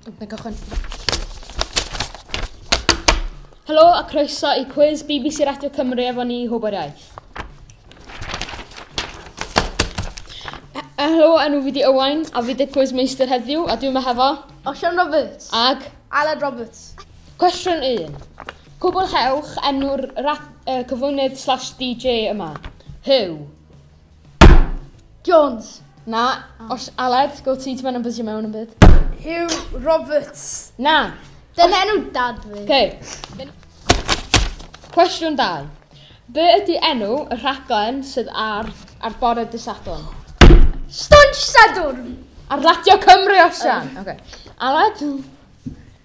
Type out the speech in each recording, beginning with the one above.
Dwi'n cychwyn. Helo a croeso i cwiz BBC Radio Cymru efo ni Hwber Iaith. Helo, enw fi di Owain, a fi di cwiz meistr heddiw, a dwi'n yma hefo... Osian Roberts. Ag? Aled Roberts. Cwestiwn 1. Cwblhewch enw'r rap yy cyflwynydd slash DJ yma. Huw. Jones. Na. Os Aled, go ti, ti moyn ymbysio mewn yn byd. Huw Roberts. Na. Dyna enw dad fi. Okay. Cwestiwn 2. Be ydy enw y rhaglen sydd ar ar bore dy Sadwrn? Stwnsh Sadwrn! Ar Radio Cymru, Osian! Oce. Aled?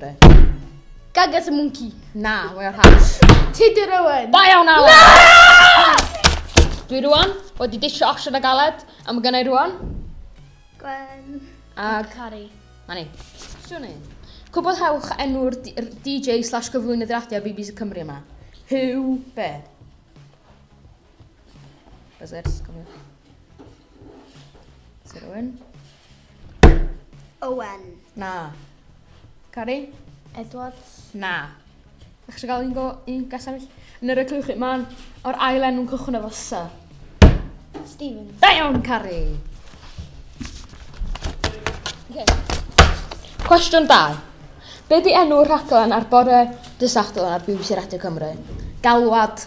Be? Gagas y mwnci. Na, mae o'r hash. Tudur Owen. Da iawn, Alan. Na! Dwi rwan wedi disio osian a galed, a mae gennau rwan. Gwen. A... Cari. Ma ni. Siwn i. Cwbl hewch enw'r DJ slash gyflwynydd radio BBC Cymru yma. Hugh Bear. Buzzers, come here. Sir Owen. Owen. Na. Cari? Edwards. Na. Ydych eisiau gael un, go, un gas arall? Yn yr eglwch chi, mae'n o'r ail enw'n cychwyn efo sy. Stephen. Da iawn, Cari. Okay. Cwestiwn 2. Be di enw'r rhaglen ar bore dysachtel ar BBC Radio Cymru? Galwad,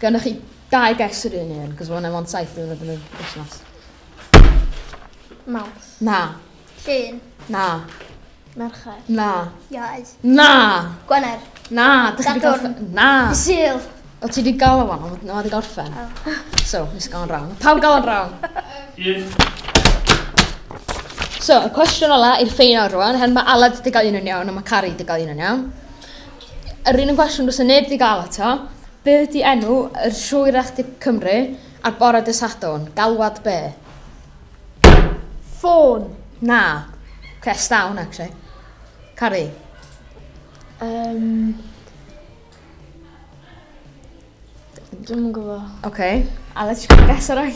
Gynnoch chi dau gais yr un un, cos mae'n efo'n saith diwrnod yn y busnes. Mawrth. Na. Llun. Na. Mercher. Na. Iau. Na. Gwener. Na. Dych chi wedi gorffen? Na. Sil. O ti wedi gael o fan, ond na wedi gorffen. Oh. So, nes gael o'n rawn. Pawb gael o'n rawn. Un. So, y cwestiwn ola i'r ffein o'r rwan, hen mae Aled wedi gael un yn iawn a mae Cari wedi gael un yn iawn. Yr un yn gwestiwn does 'na neb 'di ga'l eto. Be' ydi enw yr Siŵr Echdi Cymru ar bore dy' Sadwrn? Galwad be'? Ffôn. Na. Crest down actually. Cari. Yym. Dwi'm yn gwbo. Oce. A let's just guess ar ai.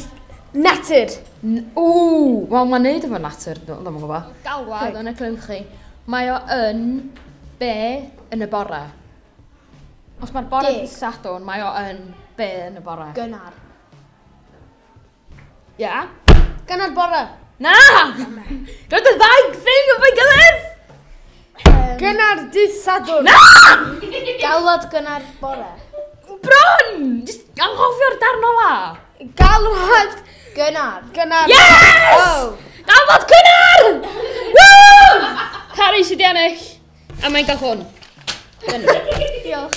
Natur! N- Ww! Wel mae'n neud efo natur, dw- dwi'm yn gwbo. Galwad yn y clywch Mae o yn be yn y bore? Os mae'r bore Deg. yn Sadwrn, mae o yn be yn y bore? Gynnar. Ia? Ganad bore. Na! Gan y ddau ffilm efo'i gilydd! Gynnar dydd Sadwrn. Na! Galwad gynnar bore. Bron! Just anghofio'r darn ola. Galwad gynnar. Gynnar. Yes! Oh. Galwad gynnar! Woo! Cari sydd i ennill. A mae'n cael hwn. Diolch.